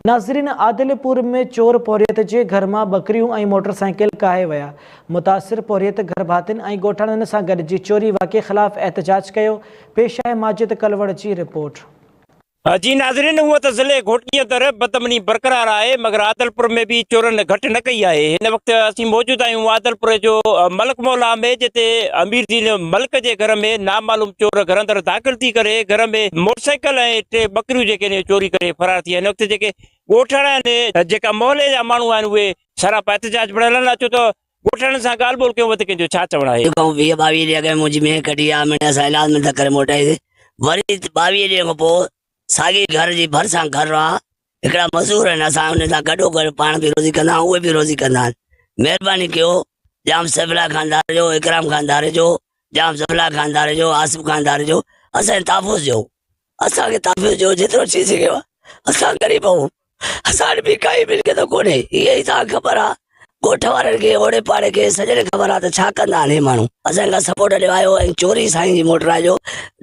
ناظرين عادل پور ۾ چور پورهيت جي گهر مان ٻڪريون ۽ موٽر سائيڪل ڪاهي ويا، متاثر پورهيت گهر ڀاتين ۽ ڳوٺاڻن سان گڏجي چوري واقعي خلاف احتجاج ڪيو، پيش آهي ماجد ڪلوڙ جي رپورٽ. جي ناظرين هونئن ته ضلعي گهوٽڪي اندر بدامني برقرار آهي مگر عادل پور ۾ به چورن گهٽ نه ڪئي آهي هن وقت اسين موجود آهيون عادل پور جو ملڪ مولا ۾ جتي امير دين ملڪ جي گهر ۾ نامعلوم چور گهر اندر داخل ٿي ڪري گهر ۾ موٽر سائيڪل ۽ ٽي ٻڪريون جيڪي چوري ڪري فرار ٿي ويا. هن وقت جيڪي ڳوٺاڻا آهن، جيڪا محلي جا ماڻهو آهن اهي سراپا احتجاج پڻ هلن ها ڇو ته ڳوٺاڻن سان ڳالهه ٻولهه ڪيون به ته ڪنهن جو ڇا چوڻ آهي. جيڪو آئون ويهه ٻاويهه ڏينهن اڳ منهنجي مينهن ڪڍي آ مڙني اسان علاج ۾ نه ڪري موٽائيسي وري ٻاويهه ڏينهن کان پوء ساڳي گهر جي ڀرسان گهر آ هڪڙا مزور آهن اسان انهن سان گڏو گڏ پاڻ به روزي ڪندا آهون اهي به روزي ڪندا آهن مهرباني ڪيو ڄام سيفلاء خان ڌاريجو اڪرام خان ڌاريجو ڄام سيفلاء خان ڌاريجو آصف خان ڌاريجو اسان جي تحفظ جو اسان کي تحفظ جو جيترو ٿي سگهيو آهي اسان غريب آهيون اسان وٽ به ڪائي ملڪيت ڪونهي اهي ئي توهان کي خبر آهي ڳوٺ وارن کي اوڙي پاڙي کي سڄڻي خبر آهي ته ڇا ڪندا آهن اهي ماڻهو اسان کي سپورٽ ڏيو آيو ۽ چوري سائين جي موٽرا جو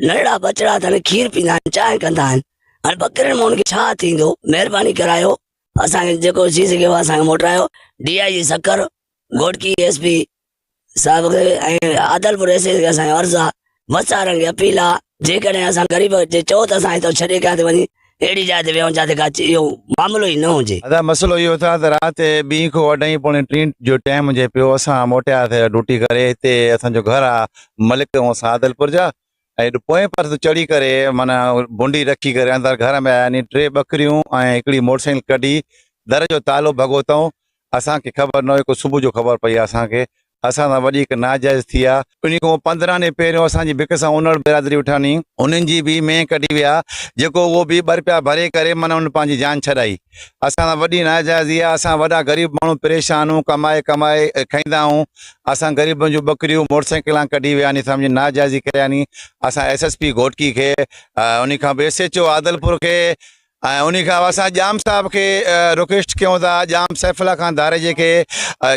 ننڍڙا ٻچڙا اٿن کير پيندا آهن چانهه ڪندا آهن هاڻي ٻڪرين مون کي ڇا ٿيندو مهرباني ڪرايو اسان کي جيڪو ٿي سگهيو اسان کي موٽرايو D I G Sukkur Ghotki S P صاحب کي ۽ عادلپور ايس ايس کي اسان جو عرض آ وسارن کي اپيل آ جيڪڏهن اسان غريب جي چئو ته اسان هتو ڇڏي ڪيا تي وڃي اهڙي جاء تي ويهون جاتي ڪا اهو معاملو ئي نه هجي. ادا مسئلو اهو اٿا ته رات ٻين کان اڍائين پوڻي ٽين جو ٽيم هجي پيو اسان موٽيا ٿا ڊوٽي ڪري هتي اسان جو گهر آ ملڪ ۽ اسان عادلپور جا ايڏ پوئين پهر تي چڙهي ڪري معنيٰ ڀونڊي رکي ڪري اندر گهر ۾ آيا ني ٽي ٻڪريون ۽ هڪڙي موٽر سائيڪل ڪڍي در جو تالو ڀڳو تئون اسان کي خبر نه هئي ڪو صبح جو خبر پئي اسان کي اسان سان وڏيڪ ناجائز ٿي آ انهي کان پندرهن ڏينهن پهريون اسان جي بک سان انڙ برادري اٺاني انهن جي به مينهن ڪڍي ويا جيڪو اهو به ٻه رپيا ڀري ڪري معنيٰ ان پنهنجي جان ڇڏائي. اسان سان وڏي ناجائزي آ، اسان وڏا غريب ماڻهو پريشان هون، ڪمائي ڪمائي کائيندا هون، اسان غريبن جون ٻڪريون موٽرسائيڪلان ڪڍي وياني سمجهي ناجائزي ڪرياني، اسان ايس ايس پي گهوٽڪي کي انهي کان به ايس ايچ او عادلپور کي ۽ انهي کان اسان ڄام صاحب کي رڪويسٽ ڪيون ٿا ڄام سيف الله خان ڌاريجي کي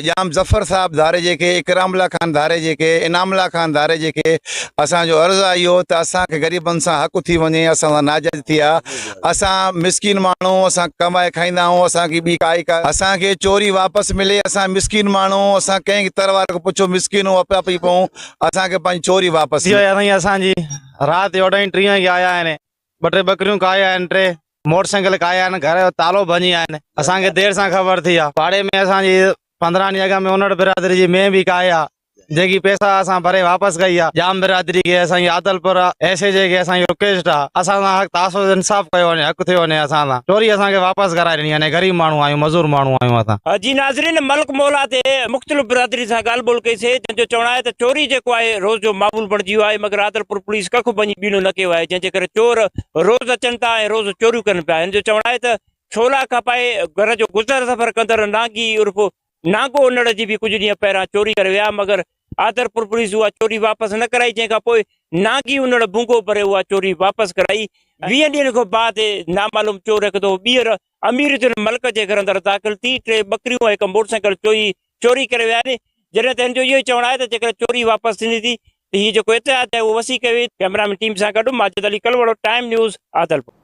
ڄام ظفر صاحب ڌاريجي کي اڪرام الله خان ڌاريجي کي انعام الله خان ڌاريجي کي اسان جو عرض آ اهو ته اسان کي غريبن سان حق ٿي وڃي اسان سان ناجائزي ٿي آ اسان مسڪين ماڻهو اسان ڪمائي کائيندا آهيون اسان کي ٻي ڪائي ڪا اسان کي چوري واپس ملي اسان مسڪين ماڻهو اسان ڪنهن تر واري کي پڇو مسڪين آهيون اپئي اپئي پئون اسان کي پنهنجي چوري واپس ٿي وئي آهي سائين اسان جي رات جو اڍائين ٽيهه وڳي آيا آهن ٻه ٽي ٻڪريون کائي آهن ٽي موٽر سائيڪل کائي آهن گهر جو تالو ڀڃي آهن اسان کي دير سان خبر ٿي آهي پاڙي ۾ اسان جي پندرهن ڏينهن اڳ ۾ اونڙ برادري جي مينهن به ڪاهي آ جيڪي پيسا اسان ڀري واپس ڪئي آ ڄام برادري کي اسانجي عادلپور ايس ايچ اي کي اسانجي رڪويسٽ آ اسان سان حق تحفظ انصاف ڪيو وڃي حق ٿيو وڃي اسان سان چوري اسان کي واپس ڪرائي ڏني وڃي غريب ماڻهو آهيون مزور ماڻهو آهيون اسان. جي ناظرين ملڪ مولا تي مختلف برادرين سان ڳالهه ٻولهه ڪئي سي جن جو چوڻ آهي ته چوري جيڪو آهي روز جو معمول بڻجي ويو آهي مگر عادلپور پوليس ڪک به وڃي ٻيڻو نه ڪيو آهي جنهن جي ڪري چور روز اچن ٿا ۽ روز چوريون ڪن پيا هن جو چوڻ آهي ته ڇولا کپائي گهر جو گذر سفر ڪندڙ نانگي عرف نانگو انڙ جي به ڪجهه ڏينهن پهريان چوري ڪري ويا مگر آدرپور پوليس اها چوري واپس نه ڪرائي جنهن کان پوء نانگي انڙ ڀونگو ڀري اها چوري واپس ڪرائي ويهن ڏينهن کان بعد نامعلوم چور هڪ دفعو ٻيهر امير الدين ملڪ جي گهر اندر داخل ٿي ٽي ٻڪريون ۽ هڪ موٽرسائيڪل چوري چوري ڪري ويا آهن جڏهن ته هن جو اهو ئي چوڻ آهي ته جيڪڏهن چوري واپس ٿيندي ٿي ته هي جيڪو اتحاد آهي اهو وسيع ڪيو ويندو ڪئميرا مين ٽيم سان گڏ ماجد علي ڪلهوڙو ٽائيم نيوز عادلپور